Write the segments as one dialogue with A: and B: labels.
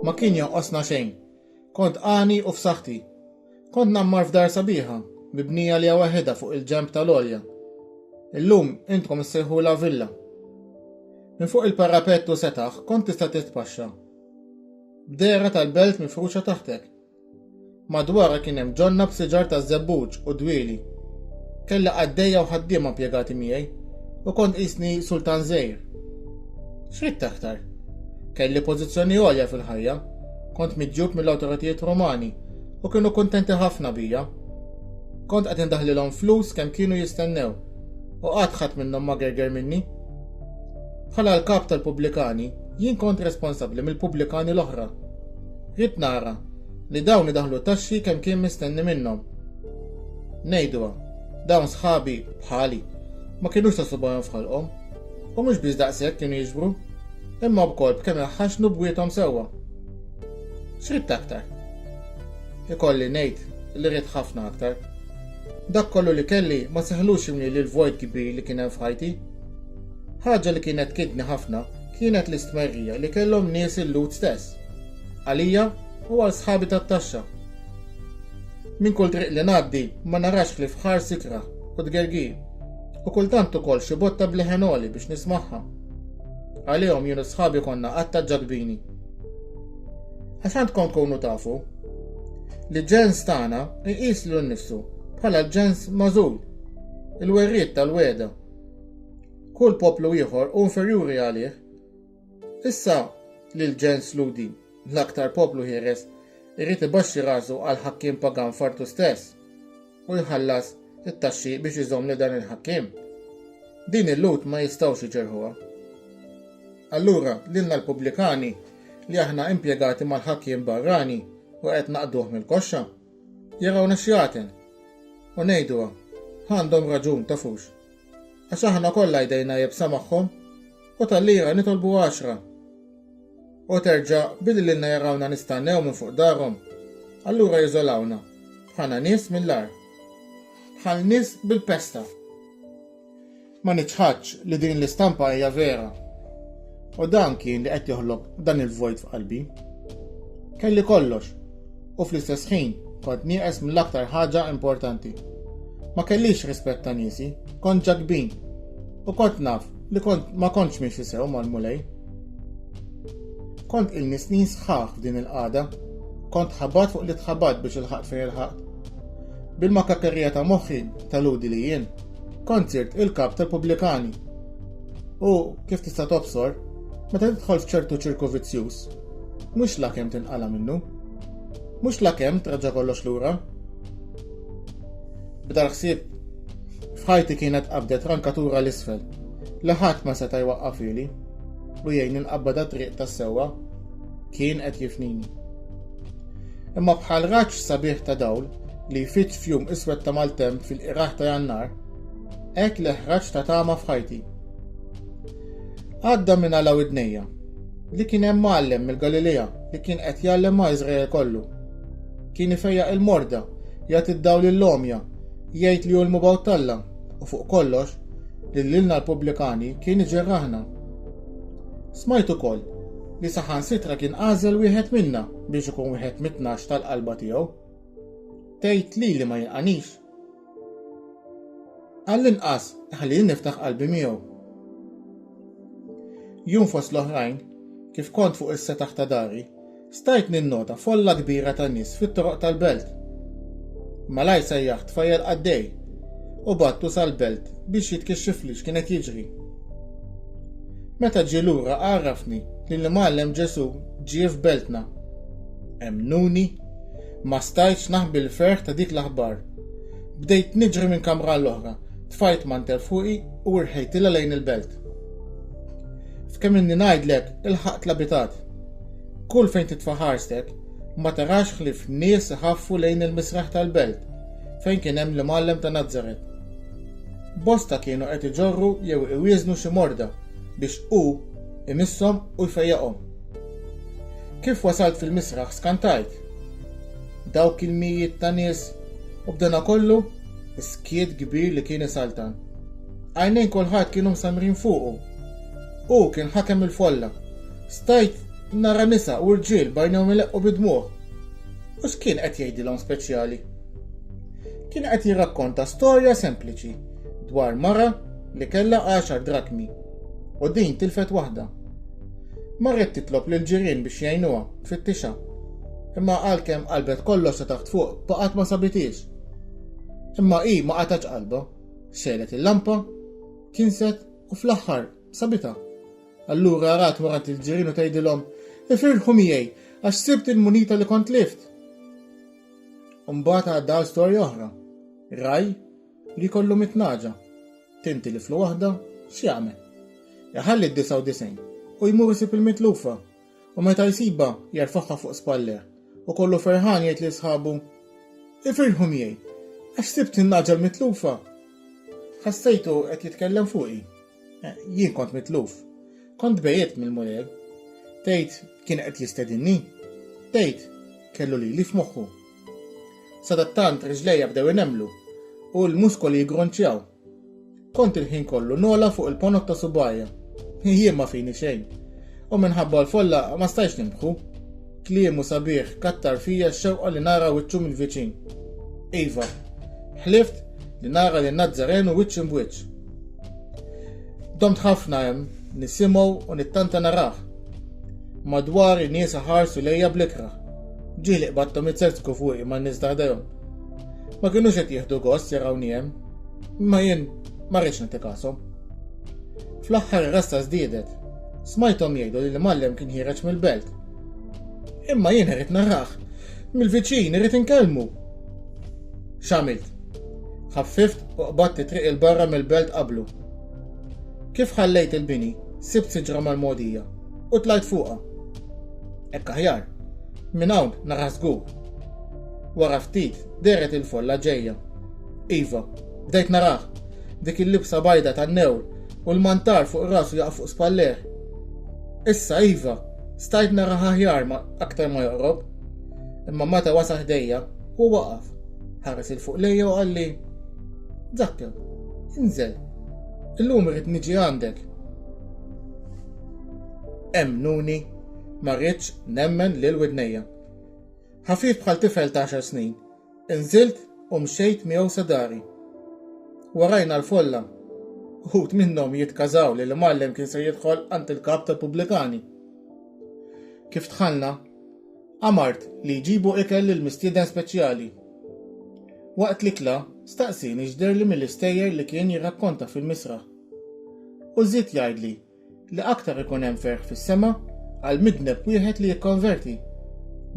A: Ma kien jonqosna xejn. Kont għani u f'saħħti. Kont ngħammar f'dar sabiħa, mibnija liha waħidha fuq il-ġenb tal-għolja. Illum intkom issejħulha villa. Minn fuq il-parapett u setaħ kont tista' titpaxxa. B'dehra tal-belt mifruxa taħtek, Madwarha kien hemm ġonna b'siġar taż-żebbuġ u dwieli. Kellha qaddejja u ħaddiema impjegati miegħi, u kont qisni sultan żgħir. X'ridt aktar? Kelli pożizzjoni għolja fil-ħajja, kont miġjub mill-awtoritajiet Rumani u kienu kuntenti ħafna bija. Kont qed indaħħlilhom flus kemm kienu jistennew, u qatt ħadd minnhom ma gerger minni. Bħala l-kap tal-pubblikani, jien kont responsabbli mill-pubblikani l-oħra. Ridt nara li dawn idaħħlu taxxi kemm kien mistenni minnhom. Ngħiduha, dawn sħabi bħali ma kinux ta' subgħajhom f'ħalqhom u mhux biss daqshekk kienu jiġbru, imma wkoll b'kemm iħaxxnu bwiethom sewwa. X'ridt aktar? Ikolli ngħid li ridt ħafna aktar. Dak kollu li kelli ma seħħlux jimlieli l-vojt kbir li kien hemm f'ħajti. Ħaġa li kienet tkidni ħafna kienet l-istmerrija li kellhom nies il-Lhud stess. Għalija u għal sħabi tat-taxxa. Minn kull triq li ngħaddi ma narax ħlief ħar sikraħ u tgergir, u kultant ukoll xi botta b'leħen għoli biex nismagħha. Għalihom jien u sħabi konna qatta ġadbini. Għax għandkom tkunu tafu li ġens tagħna jqis lil nnifsu bħala l-ġens mażul, il-werriet tal-weda. Kull poplu ieħor hu inferjuri għalih Issa li l-ġens Lhudi, l-aktar poplu ħieles, irid ibaxxi rasu għall-ħakkiem pagan f'artu stess u jħallas it-taxxi biex iżomm lil dan il-ħakkiem, din il-Lhud ma jistgħux iġerrħuha. Allura, lilna l-pubblikani li aħna impjegati mal-ħakkiem barrani u qed naqduh mill-koxxa, jarawna xjaten u ngħiduha, għandhom raġun, tafux. Għax aħna kollha jdejna jebsa magħhom, u tal-lira nitolbu għaxra. U terġa' billi lilna jarawna nistannew minn fuq darhom, allura jiżolawna, bħalna nies mill-agħar. Bħal nies bil-pesta. Ma niċħadx li din l-istampa hija vera. U dan kien li qed joħloq dan il-vojt f'qalbi. Kelli kollox. u fl-istess ħin kont nieqes mill-aktar ħaġa importanti. Ma kellix rispett ta' niesi, kont ġakbin u kont naf li kont ma kontx miexi sew mal-Mulej. Kont ilni snin sħaħ f'din il-qada, kont ħabat fuq li tħabat biex il-ħaq fejn il-ħaq. Bil-makakerija ta' moħħi tal-udi li jien, kont sirt il-kap tal-pubblikani. U kif tista' tobsor, meta tidħol f'ċertu ċirku vizzjuż, Mhux lakemm tinqala' minnu. Mhux lakemm traġġa' kollox lura. B'dal ħsieb f'ħajti kienet qabdet rankatura l isfel li ħadd ma seta' jwaqqaf ili u jgħinni nqabbad għat-triq tas-sewwa. Kien qed jifnini. Imma bħal raġġ sabiħ ta' dawl li jfiġġ f'jum iswed ta' maltemp fil-qirgħah ta' Jannar, hekk li ħraġ ta' tama f'ħajti. Għadda minn għala widnejja li kien hemm għallem mill-Galilea li kien qed jgħallem ma' Iżrael kollu. Kien ifejjaq il-morda, jagħti d-dawl lill-għomja, jgħid li hu l-mubgħut t'Alla u fuq kollox li lilna l-pubblikani kien iġerraħna. Smajt ukoll li saħansitra kien għażel wieħed minna biex ikun wieħed mit-tnax tal-qalba tiegħu. Tgħid li li ma jinqanix, Għall-inqas ħalli niftaħ qalbi miegħu. Jum fost l-oħrajn, kif kont fuq is-setaħ ta' dari, stajt ninnota folla kbira ta' nies fit-toroq tal-belt. Malaj sejjaħt fajjel qaddej u battu sal-belt biex jitkixxifli x'kienet jiġri. Meta ġie lura għarrafni li l-imgħallem Ġesù ġie f'beltna. Emnuni? Ma stajtx naħbi l-ferħ ta' dik l-aħbar. Bdejt niġri minn kamra għall-oħra, tfajt mantel fuqi u irħejtilha lejn il-belt. F'kemm inni ngħidlek ilħaqt l-abitat. Kull fejn titfa' ħarstek, ma tarax ħlief nies iħaffu lejn il-misraħ tal-belt fejn kien hemm l-imgħallem ta' Nazaret. Bosta kienu qed iġorru jew iwieżnu xi morda biex hu imisshom u jfejjaqhom. Kif wasalt fil-misraħ skantajt. Dawk il-mijiet ta' nies u b'danakollu skiet kbir li kien isaltan. Għajnejn kulħadd kienu msammrin fuqu. Hu kien ħakem il-folla. Stajt nara nisa u rġiel b'għajnejhom ileqqu bid-dmugħ. U x'kien qed jgħidilhom speċjali? Kien qed jirrakkonta storja sempliċi dwar mara li kellha għaxar drakmi u din tilfet waħda. Marret titlob lil ġirien biex jgħinuha, tfittixha. Imma għalkemm qalbet kollox ta' taħt fuq, baqgħet ma sabitiex. Imma hi ma qatax qalba, xegħlet il-lampa, kinset u fl-aħħar sabitha. Allura rat morant il-ġirien u tgħidilhom, ifirħu miegħi għax sibt il-munita li kont lift. Umbagħad għadda storja oħra. Raj Li jkollu mitt nagħġa, tinti li fl waħda, x'jagħmel? Iħalli d-disgħa u disgħin, u jmur isib il-mitlufa, u meta jsibha, jerfagħha fuq spallejh, u kollu ferħan jgħid lil sħabu, Ifirħu miegħi, għax sibt in-nagħġa l-mitlufa! Ħassejtu qed jitkellem fuqi? Jien kont mitluf. Kont tbegħidt mill-Mulej. Tgħid, kien qed jistedinni? Tgħid, kellu lili f'moħħu. Sadattant riġlejja bdew inemmlu u l-muskoli jiggronċjaw. Kont il-ħin kollu nogħla fuq il-ponot ta' subgħajja. Jien ma fini xejn. U minħabba l-folla ma stajtx nimbħu. Kliemu sabiħ kattar fija x-xewqa li nara wiċċu mill-viċin. Iva, ħlift li nara lin Nazzarenu wiċċ imb'wiċċ. Domt ħafna hemm nisimgħu u nittanta narah. Madwari nies iħarsu lejja bl-ikrah. Ġieli qbadthom itselsku fuqi man-nies ta' ħdejhom. Ma kinux qed jieħdu gost jarawni hemm, imma jien ma rridx nagħti kashom. Fl-aħħar ir-rassa żdiedet. Smajthom jgħidu li l-imgħallem kien ħiereġ mill-belt. Imma jien irrid narah. Mill-viċin irrid inkellmu. X'għamilt? Ħaffift u qbadt it-triq il-barra mill-belt qablu. Kif ħallejt il-bini, sibt siġra mal-mogħdija. u tlajt fuqha. Hekk aħjar. Minn hawn naraħ żgur. Wara ftit deret il-folla ġejja. Iva, bdejt naraħ. Dik il-libsa bajda tan-newl u l-mantar fuq rasu jaqaf fuq spalleh. Issa iva, stajt naraħ aħjar ma aktar ma joqrob. Imma meta wasa ħdejja, hu waqaf. Ħares il fuq lejja u qalli, Zakkew, inżel. Illum irid niġi għandek. Emmnuni, ma rridx nemmen lil widnejja. Ħafif bħal tifel ta' għaxar snin, inżilt u mxejt miegħu sa dari. Warajna l-folla. Uħud minnhom jitkażaw li l-imgħallem kien se jidħol għand il-kap tal-pubblikani. Kif dħalna, amart li jġibu ikel lil mistieden speċjali. Waqt l-ikla, staqsieni x'derli mill-istejjer li kien jirrakkonta fil-misraħ. U żied jgħidli li aktar ikun hemm ferħ fis-sema għal midneb wieħed li jikkonverti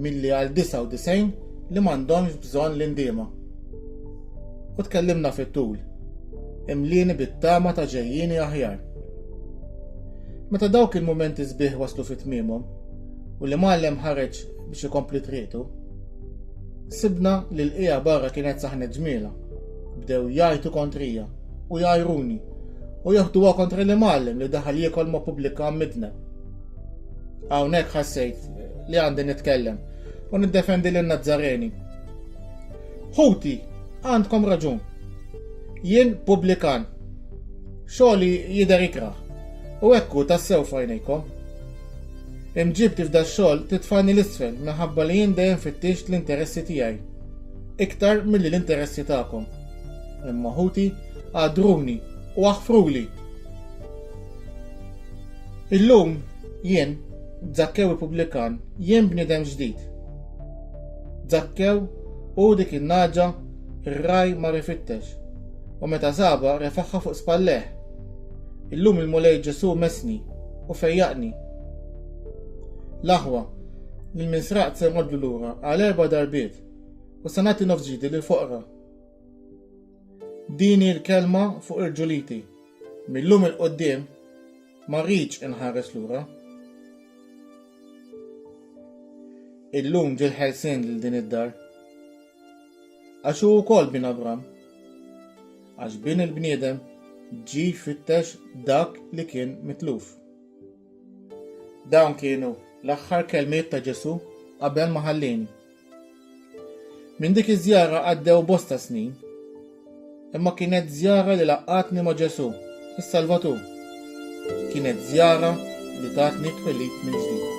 A: milli għal 99 li m'għandhomx bżonn l-indiema. U tkellimna fit-tul, imlieni bit-tama ta' ġejjini aħjar. Meta dawk il-mumenti sbieħ waslu fit tmiemhom u li mallem ħareġ biex ikompli triqtu, sibna li l-qija barra kienet saħnet ġmiela, bdew jajtu kontrija. u jgħajruni u joħduha kontra l-imgħallem li daħal jiekol ma' pubblika midneb. Hawnhekk ħassejt li għandi nitkellem u niddefendi lin Nazzareni. Ħuti, għandkom raġun. Jien pubblikan. Xogħli jidher ikraħ u ekku tassew fajnejkom. Imġibti f'da xogħol titfani l-isfel minħabba li jien dejjem fittixt l-interessi tiegħi iktar milli l-interessi tagħkom. Imma ħuti, għadruni u aħfruli! Illum jien, Zakkew il-pubblikan, jien bniedem ġdid. Zakkew hu dik in-nagħġa r-ragħaj mar ifittex, u meta sabha refagħha fuq spallejh. Illum il-Mulej Ġesù messni u fejjaqni. L-aħwa, lil min sraqt se nroddlu lura għal erba' darbiet, u se nagħti nofs ġidi lill-foqra. Din hi l-kelma fuq irġuliti. Millum il-qoddim ma rridx inħares lura. Illum ġil ħelsien lil din id-dar. Għax hu wkoll bin Abram. Għax bin il-bniedem ġi jfittex dak li kien mitluf. Dawn kienu l-aħħar kelmiet ta' Ġesu qabel ma ħallini. Minn dik iż-żjara għaddew bosta snin, imma kienet żjara li laqqgħatni ma' Ġesù, is-Salvatur. Kienet żjara li tatni twelid mill-ġdid.